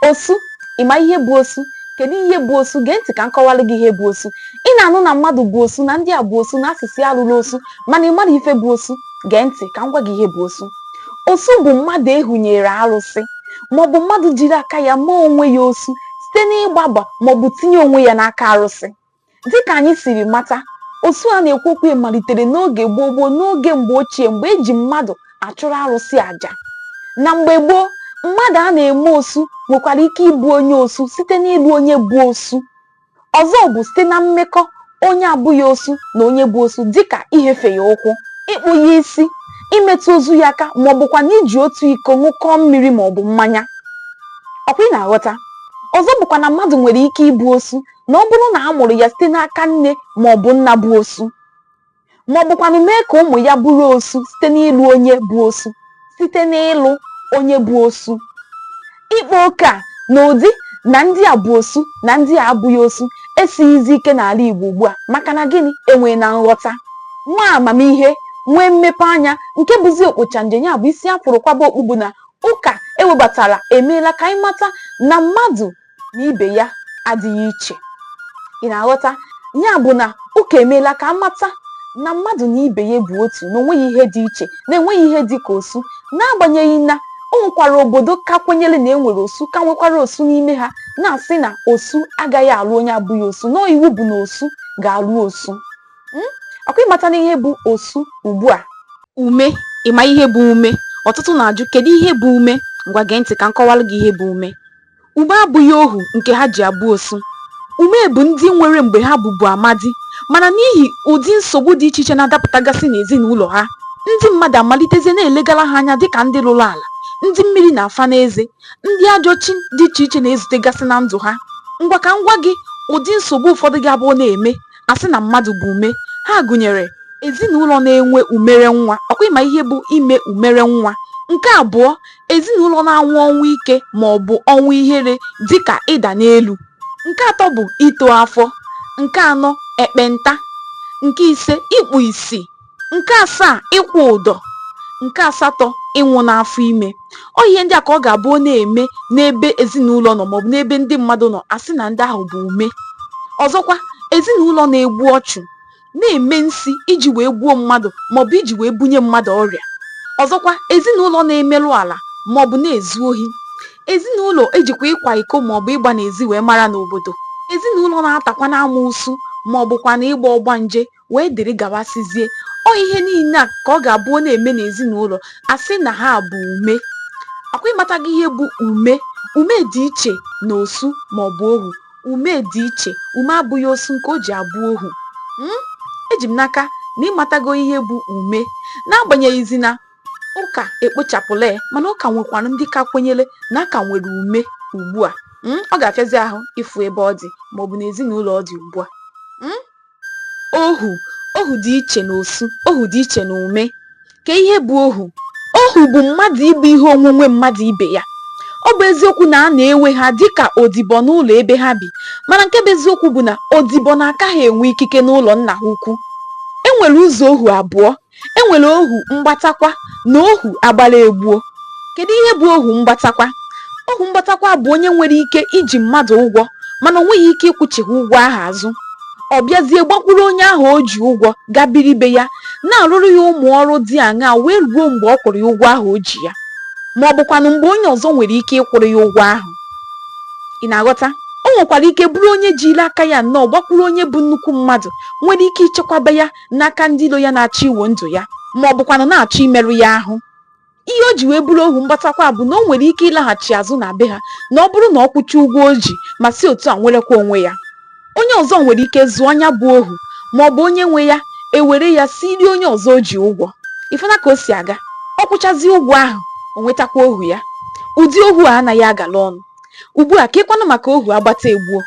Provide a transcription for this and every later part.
Osu, Ị ma ihe bụ osu? Kedu ihe bụ osu? Gee ntị ka m kọwalụ gị ihe bụ osu. Ị na-anụ na mmadụ bụ osu, na ndị a bụ osu, na a sị sị alụla osu, mana ị mara ife bụ osu? Gee ntị ka m gwa gị ihe bụ osu. Osu bụ mmadụ ehunyere arụsị maọbụ mmadụ jiri aka ya mee onwe ya osu site n'ịgbaba maọbụ tinye onwe ya n'aka arụsị. Dịka anyị siri mata, osu a na-ekwu okwu ya malitere n'oge gboo gboo n'oge mgbe ochie mgbe e ji mmadụ achụrụ arụsị aja. Na mgbe gboo, mmadụ a na-eme osu nwekwara ike ịbụ onye osu site n'ịlụ onye bụ osu. Ọzọ bụ site na mmekọ onye abụghị osu na onye bụ osu dịka ihefe ya ụkwụ, ịkpụ ya isi, imetụ ozu ya aka maọbụkwanụ iji otu iko ṅụkọọ mmiri maọbụ mmanya. Ọ kwa ị na-aghọta? Ọzọ bụkwa na mmadụ nwere ike ịbụ osu na ọ bụrụ na a mụrụ ya site n'aka nne ma ọ bụ nna bụ osu ma ọ bụkwanụ mee ka ụmụ ya bụrụ osu site n'ịlụ onye bụ osu site n'ịlụ onye bụ osu ịkpa oke a na-adị na ndị a bụ osu na ndị a abụghị osu esighizi ike n'ala Igbo ugbu a maka na gịnị enweena nghọta nwee amamihe nwee mmepe anya nke bụzi okpocha nje ya bụ isi a fụrụ kwaba okpu bụ na ụka ewebatara emeela ka anyị mata na mmadụ na ibe ya adịghị iche ị na-aghọta ya bụ na ụka emeela ka amata na mmadụ na ibe ya bụ otu na onweghị ihe dị iche na enweghị ihe dị ka osu n'agbanyeghị na o nwekwara obodo ka kwenyere na e nwere osu ka nwekwara osu n'ime ha na-asị na osu agaghị alụ onye abụghị osu na iwu bụ na osu ga-alụ osu hmm? ọkwa ị matana ihe bụ osu ugbu a ume ịma ihe bụ ume ọtụtụ na-ajụ kedu ihe bụ ume ngwa gee ntị ka m kọwalụ gị ihe bụ ume Ume abụghị ohu nke ha ji abụ osu. Ume bụ ndị nwere mgbe ha bụbu amadi, mana n'ihi ụdị nsogbu dị iche iche na-adapụtagasị n'ezinụlọ ha, ndị mmadụ amalitezie na-elegara ha anya dịka ndị lụrụ ala, ndị mmiri na-afa n'eze, ndị ajọ chi dị iche iche na-ezutegasị na ndụ ha. Ngwa ka m gwa gị ụdị nsogbu ụfọdụ ga-abụ ọ na-eme a sị na mmadụ bụ ume. Ha gụnyere, ezinụlọ na-enwe umere nwa, ọkwa ị ma ihe bụ ime umere nwa? Nke abụọ, Ezinụlọ na-anwụ ọnwụ ike ma ọ bụ ọnwụ ihere dị ka ịda n'elu. Nke atọ bụ ito afọ. Nke anọ, ekpenta. Nke ise, ikpu isi. Nke asaa, ịkwụ ụdọ. Nke asatọ, ịnwụ n'afọ ime. Ọ ihe ndị a ka ọ ga-abụ ọ na-eme n'ebe ezinụlọ nọ maọbụ n'ebe ndị mmadụ nọ, a sị na ndị ahụ bụ ume. Ọzọkwa, ezinụlọ na-egbu ọchụ. na-eme nsi iji wee gbuo mmadụ maọbụ iji wee bunye mmadụ ọrịa ọzọkwa ezinụlọ na-emerụ ala maọbụ na-ezu ohi ezinụlọ ejikwa ịkwa iko maọbụ ịgba n'ezi wee mara n'obodo ezinụlọ na-atakwa n'amoosu maọbụkwa na ịgba ọgbanje wee dịrị gabasịzie ọ ihe niile a ka ọ ga-abụ ọ na-eme n'ezinụlọ a sị na ha bụ ume akwa ị matago ihe bụ ume ume dị iche na osu maọbụ ohu Ume dị iche, ume abụghị osu nke o ji abụ ohu. M? Eji m n'aka na ị matago ihe bụ ume. N'agbanyeghịzi na ụka ekpochapụla ya, mana ọ ka nwekwara ndị ka kwenyere na a ka nwere ume ugbu a. M? Ọ ga-afịazi ahụ ịfụ ebe ọ dị maọbụ n'ezinụlọ ọ dị ugbu a. M? Ohu Ohu dị iche n'osu, ohu dị iche n'ume. Kee ihe bụ ohu? Ohu bụ mmadụ ịbụ ihe onwunwe mmadụ ibe ya. Ọ bụ eziokwu na a na-ewe ha dị ka odibo n'ụlọ ebe ha bi, mana nke bụ eziokwu bụ na odibo na-aka ha enwe ikike n'ụlọ nna ha ukwu. E nwere ụzọ ohu abụọ e nwere ohu mgbatakwa na ohu agbata egbuo kedu ihe bụ ohu mgbatakwa ohu mgbatakwa bụ onye nwere ike iji mmadụ ụgwọ mana o nweghị ike ịkwụchigha ụgwọ ahụ azụ ọ bịazie gbakwuru onye ahụ o ji ụgwọ gaa biri be ya na-arụrụ ya ụmụ ọrụ dị aṅaa wee ruo mgbe ọ kwụrụ ya ụgwọ ahụ o ji ya ma ọ bụkwanụ mgbe onye ọzọ nwere ike ịkwụrụ ya ụgwọ ahụ ị na-aghọta o nwekwara ike bụrụ onye jiri aka ya nnọọ gbakwuru onye bụ nnukwu mmadụ nwere ike ichekwaba ya n'aka ndị ilo ya na-achọ iwo ndụ ya ma ọ bụkwanụ na-achọ imerụ ya ahụ ihe o ji wee bụrụ ohu mgbatakwa bụ na o nwere ike ịlaghachi azụ na be ha na ọ bụrụ na ọ kwụcha ụgwọ o ji ma si otu a nwerekwa onwe ya onye ọzọ nwere ike zụọ onye a bụ ohu ma ọ bụ onye nwe ya ewere ya siiri onye ọzọ o ji ụgwọ ị fụna ka o si aga ọ kwụchazi ụgwọ ahụ o nwetakwa ohu ya ụdị ohu a anaghị agala ọnụ Ugbu a, keekwanụ maka ohu agbata egbuo.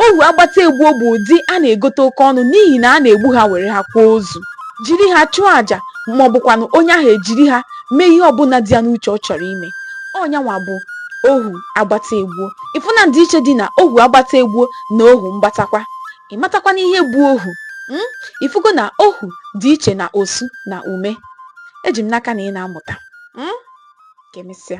Ohu agbata egbuo bụ ụdị a na-egote oke ọnụ n'ihi na a na-egbu ha were ha kwaa ozu, jiri ha chụọ aja ma ọ bụkwanụ onye ahụ ejiri ha mee ihe ọbụla dị ya n'uche ọ chọrọ ime. Ọ nyanwa bụ ohu agbata egbuo. Ị fụna ndịiche dị na ohu agbata egbuo na ohu mgbatakwa? Ị matakwana ihe bụ ohu? um Ị fụgo na ohu dị iche na osu na ume? Eji m n'aka na ị na-amụta. um Ka emesịa.